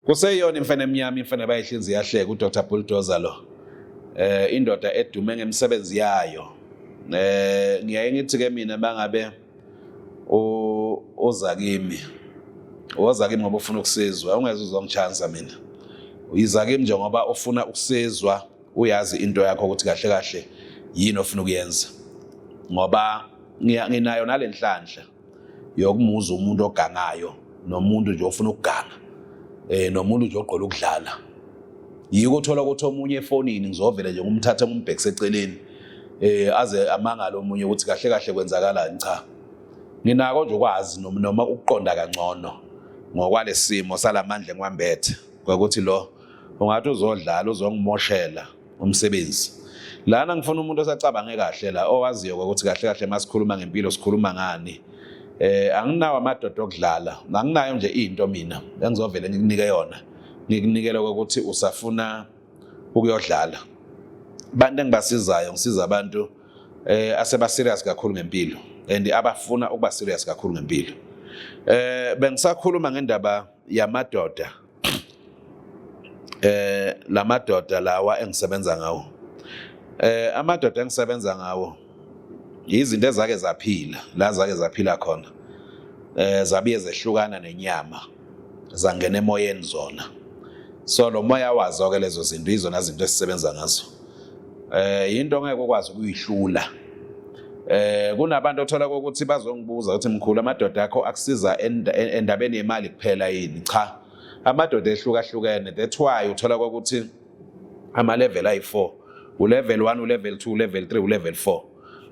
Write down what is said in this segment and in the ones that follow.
Kuseyona imfene emnyama imfene bayihlinzi yahleka uDr Bulldozer lo. Eh indoda edume ngemisebenzi yayo. Eh ngiyaye ngithi ke mina bangabe uza kimi. Woza kimi ngoba ufuna ukusizwa, ungeze uzongichansa mina. Uyiza kimi nje ngoba ufuna ukusizwa. uyazi into yakho ukuthi kahle kahle yini ofuna ukuyenza ngoba nginayo nalenhlanhla yokumuza umuntu ogangayo nomuntu nje ofuna ukuganga eh nomuntu nje ogqola ukudlala yiko uthola ukuthi omunye efonini ngizovele nje ngumthathe ngumbhekise eceleni eh aze amangale omunye ukuthi kahle kahle kwenzakalani cha nginako nje ukwazi noma ukuqonda kangcono ngokwalesimo salamandla engiwambethe ngokuthi lo ungathi uzodlala uzongimoshela umsebenzi lana ngifuna umuntu osacabange kahle la owaziyo ukuthi kahle kahle masikhuluma ngempilo sikhuluma ngani eh anginawo amadoda okudlala anginayo nje into mina engizovele ngikunike yona ngikunikele ukuthi usafuna ukuyodlala abantu engibasizayo ngisiza abantu eh aseba serious kakhulu ngempilo and abafuna ukuba serious kakhulu ngempilo eh bengisakhuluma ngendaba yamadoda eh lamadoda lawa engisebenza ngawo eh amadoda engisebenza ngawo izinto ezake zaphila la zake zaphila khona eh zabiye zehlukana nenyama zangena emoyeni zona so lo moya wazo ke lezo zinto izona zinto esisebenza ngazo eh into ongeke ukwazi ukuyihlula eh kunabantu othola ukuthi bazongibuza ukuthi mkhulu amadoda akho akusiza endabeni yemali kuphela yini cha amadoda ehlukahlukene that's why uthola ukuthi ama level ayi4 u level 1 u level 2 u level 3 u level 4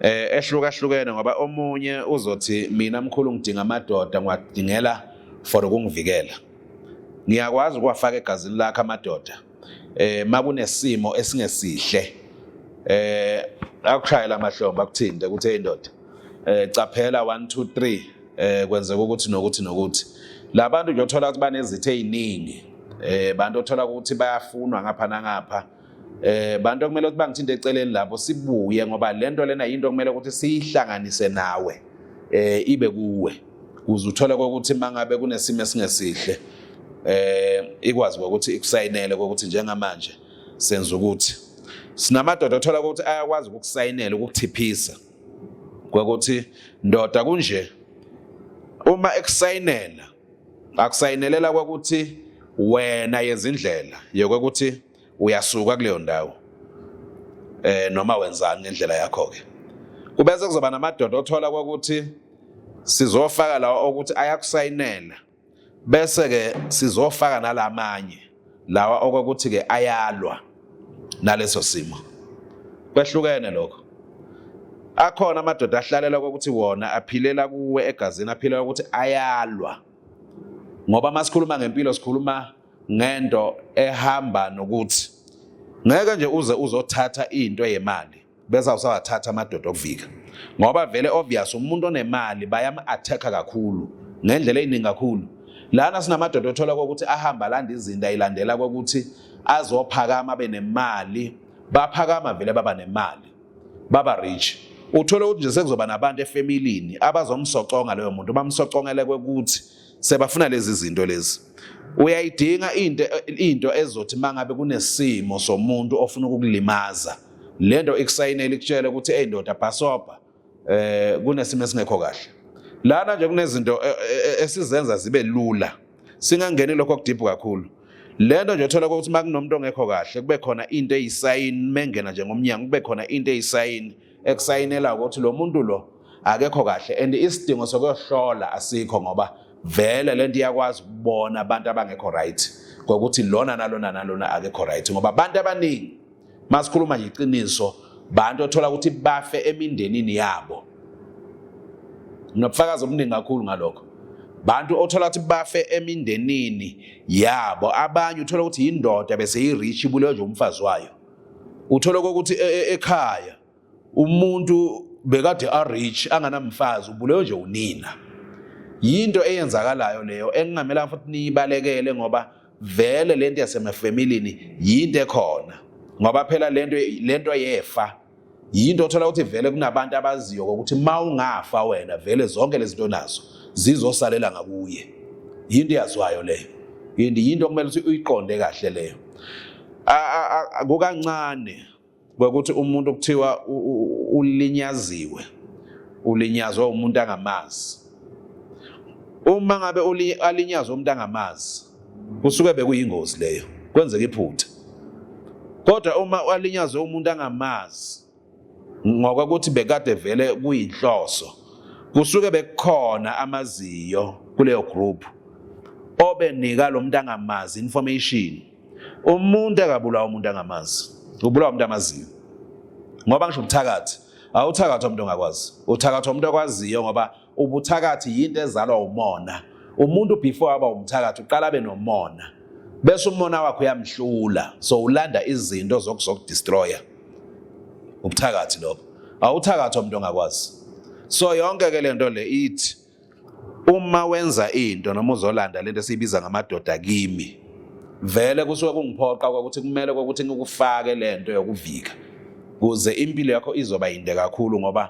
eh ehlukahlukene ngoba omunye uzothi mina mkhulu ngidinga amadoda ngiwadingela for ukungivikela ngiyakwazi ukuwafaka egazini lakhe amadoda eh makunesimo esingesihle eh akushayela amahlombe akuthinte ukuthi hey ndoda eh caphela 1 2 3 eh kwenzeka ukuthi nokuthi nokuthi labantu nje othola ukuthi banezithe eziningi eh bantu othola ukuthi bayafunwa ngapha nangapha eh bantu okumele ukuthi bangithinte eceleni lapho sibuye ngoba lento lena into okumele ukuthi siyihlanganise nawe eh ibe kuwe kuze uthole kokuthi mangabe kunesimo esingesihle eh ikwazi ukuthi ikusayinele kokuthi njengamanje senza ukuthi sinamadoda othola ukuthi ayakwazi ukusayinela ukuthiphisa kokuthi ndoda kunje uma ekusayinela akusayinelela kokuthi wena yezindlela yokuthi uyasuka kuleyo ndawo eh noma wenzani ngendlela yakho ke kubese kuzoba namadoda othola ukuthi sizofaka lawa ukuthi ayakusayinela bese ke sizofaka nalamanye lawa okokuthi ke ayalwa naleso simo kwehlukene lokho akhona amadoda ahlalela ukuthi wona aphilela kuwe egazini aphilela ukuthi ayalwa ngoba masikhuluma ngempilo sikhuluma ngento ehamba nokuthi ngeke nje uze uzothatha into yemali bese usawathatha amadoda okuvika ngoba vele obvious umuntu onemali bayam-attack-a kakhulu ngendlela eyiningi kakhulu lana sinamadoda othola kokuthi ahamba landa izinto ayilandela kokuthi azophakama abe nemali baphakama vele baba nemali baba rich uthole ukuthi nje sekuzoba nabantu efamilini abazomsoconga loyo muntu bamsocongeleke ukuthi sebafuna lezi zinto lezi uyayidinga into into ezothi mangabe kunesimo somuntu ofuna ukukulimaza lento ikusayinela ikutshele ukuthi hey ndoda bhasobha eh kunesimo esingekho kahle lana nje kunezinto eh, eh, eh, esizenza zibe lula singangeni lokho kudiphu kakhulu lento nje uthola ukuthi makunomuntu ongekho kahle kube khona into eyisayini mengena nje ngomnyango kube khona into eyisayini ekusayinela ukuthi lo muntu lo akekho kahle and isidingo sokuyohlola asikho ngoba vele lento iyakwazi ukubona abantu abangekho right ngokuthi lona nalona nalona akekho right ngoba abantu abaningi masikhuluma nje iqiniso bantu othola ukuthi bafe emindenini yabo nginobufakazi obuningi kakhulu ngalokho bantu othola ukuthi bafe emindenini yabo abanye uthola ukuthi yindoda bese yi-rich ibulewe nje umfazi wayo Uthola ukuthi e, e, ekhaya umuntu bekade a rich anganamfazi ubulewe nje unina. Yinto eyenzakalayo leyo engingamela futhi niyibalekele ngoba vele lento yasemafamilini yinto ekhona ngoba phela lento lento yefa Yinto othola ukuthi vele kunabantu abaziyo ukuthi uma ungafa wena vele zonke lezi zinto nazo zizosalela ngakuye. Yinto eyazwayo leyo. Yinto yinto okumele ukuthi uyiqonde kahle leyo. Kukancane kwekuthi umuntu kuthiwa ulinyaziwe ulinyazwa umuntu angamazi uma ngabe alinyazwa umuntu angamazi Kusuke bekuyingozi leyo, kwenzeka iphutha. Kodwa uma walinyazwe umuntu angamazi ngokokuthi bekade vele kuyinhloso, kusuke bekukhona amaziyo kuleyo group obenika lo muntu angamazi information. Umuntu akabulawa umuntu angamazi, ubulawa umuntu amaziyo. Ngoba ngisho ubuthakathi, awuthakathi umuntu ongakwazi, uthakathi umuntu okwaziyo ngoba ubuthakathi yinto ezalwa umona umuntu before aba umthakathi uqala abe nomona bese umona wakhe uyamhlula so ulanda izinto zokuzokudestroya ubuthakathi lobo awuthakathi umuntu ongakwazi so yonke ke lento le ithi uma wenza into noma uzolanda lento esiyibiza ngamadoda kimi vele kusuke kungiphoqa ukuthi kumele ukuthi ngikufake lento yokuvika kuze impilo yakho izoba yinde kakhulu ngoba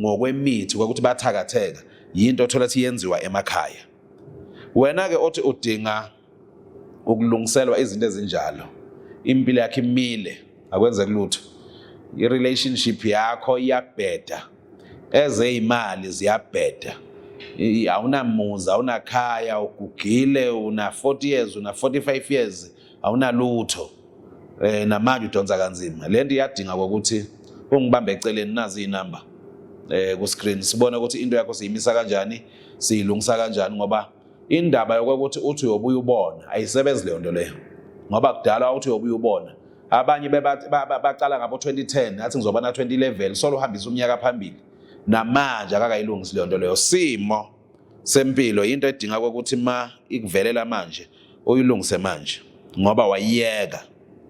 ngokwemithi kwakuthi bathakatheka yinto othola ukuthi yenziwa emakhaya wena-ke othi udinga ukulungiselwa izinto ezinjalo impilo yakhe imile akwenzeki lutho i-relationship yakho iyabheda ezeyimali ziyabheda awunamuzi awunakhaya ugugile una-40 years una-45 years awunalutho eh namanje udonsa kanzima lento iyadinga ukuthi ungibambe eceleni nazi inamba eh ku screen sibone ukuthi into yakho siyimisa kanjani siyilungisa kanjani ngoba indaba yokuthi uthi uyobuya ubona ayisebenzi leyo nto leyo ngoba kudala uthi uyobuya ubona abanye bacala ngabo 2010 athi ngizoba na 2011 solo uhambisa umnyaka phambili namanje akakayilungisi leyo nto leyo simo sempilo into edinga ukuthi ma ikuvelela manje uyilungise manje ngoba wayiyeka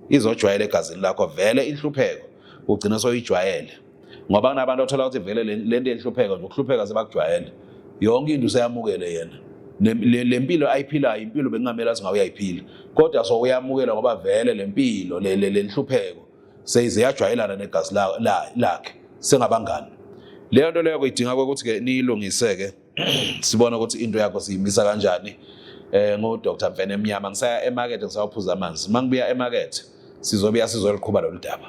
izojwayela egazini lakho vele inhlupheko ugcina soyijwayele ngoba kunabantu othola ukuthi vele le nto yenhlupheko nje ukuhlupheka sebakujwayele yonke into useyamukele yena le mpilo ayiphilayo impilo bekungamele athi ngawuyayiphila kodwa so uyamukela ngoba vele le mpilo le nhlupheko seyize yajwayelana negazi lakhe sengabangani leyo nto leyo kuyidinga ukuthi ke niyilungise ke sibona ukuthi into yakho siyimisa kanjani eh ngo Dr Mfene Emnyama ngisaya emarket ngisawaphuza amanzi mangibuya emarket sizobuya sizoliqhuba lolu daba